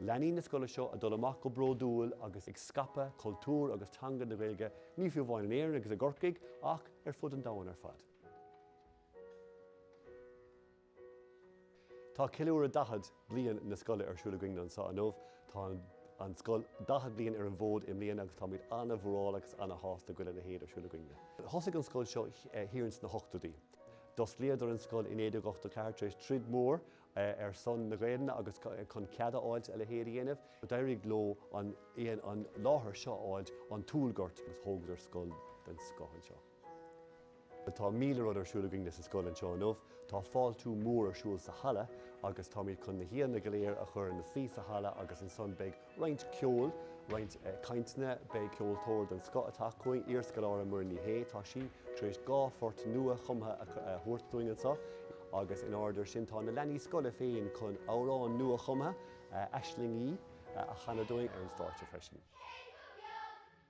leanaí na scoile seo ag dul amach go bródúil agus ag scaipeadh cultúr agus teanga na Gaeilge, ní fiú amháin in Éirinn agus i gCorcaigh, ach ar fud an domhain ar fad. Tá ceiliúradh 40 bliain na scoile ar siúl againn anso inniu. Tá an scoil 40 bliain ar an bhfód i mbliana agus táimid an-mhórála agus an-shásta go bhfuil a leithéid ar siúl againn. Thosaigh an scoil seo thiar ins na hochtóidí. D'osclaíodar an scoil i 1984 tar éis troid mhór ar son na Gaelainne agus chun cead a fháilt a leithéid a dhéanamh. D'éirigh leo an láthair seo a fháilt ón Tulghort agus thógadar scoil den scoth anseo. Tá míle rud ar siúl againne sa scoil anseo inniu. Tá fáiltiú mór ar siúl sa halla agus táimid chun na haíonna go léir a chur ina suí sa halla agus ansan beidh roinnt ceoil, roinnt cainteanna. Beidh ceoltóir den scoth atá chugainn, iarscoláire Muireann Ní Shé, tá sí tar éis dhá phort nua-chumtha a thabhairt dúinn anseo, agus in airde air sin tá na leanaí scoile féin chun amhrán nua-chumtha, 'Aislingí', a chanadh dúinn ar an stáitse freisin.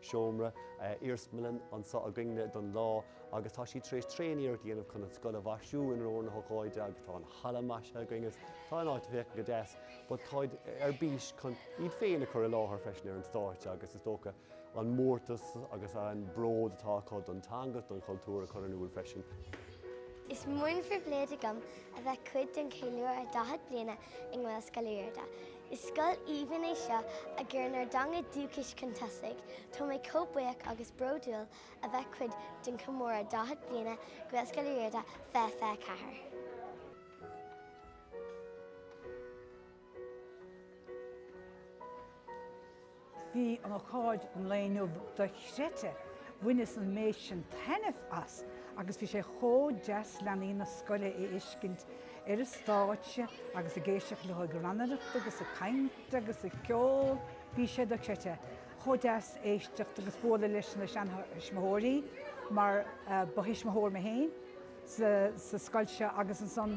seomra iarsmalainn anseo againn-ne don lá agus tá siad tar éis tréaniarracht a dhéanamh chun an scoil a mhaisiú in onóir na hócáide agus tá an halla maisithe againn agus tá an áit ag féachaint go deas but táid ar bís chun iad féin a chur i láthair freisin ar an stáitse agus is dócha an mórtas agus an bród atá acu don teanga is don chultúr a chur in iúl freisin. Is mór an phribhléid agam a bheith cuid den cheiliúradh 40 bliana i nGaelscoil Uí Riada. Is scoil aoibhinn é seo a chuireann ár dteanga dúchais chun tosaigh. Tá mé chomh buíoch agus bródúil a bheith cuid den chomóradh 40 bliana Gaelscoil Uí Riada 2024. Bhí an ócáid an lae inniu dochreidte, bhaineas an méid san taitneamh as agus bhí sé chomh deas leanaí na scoile a fheiscint ar an stáitse agus ag éisteacht leo ag rannaireacht agus ag caint agus ag ceol, bhí sé dochreidte chomh deas éisteacht agus bualadh leis na seanthuismitheoirí mar ba thuismitheoir mé féin sa scoil seo agus ansan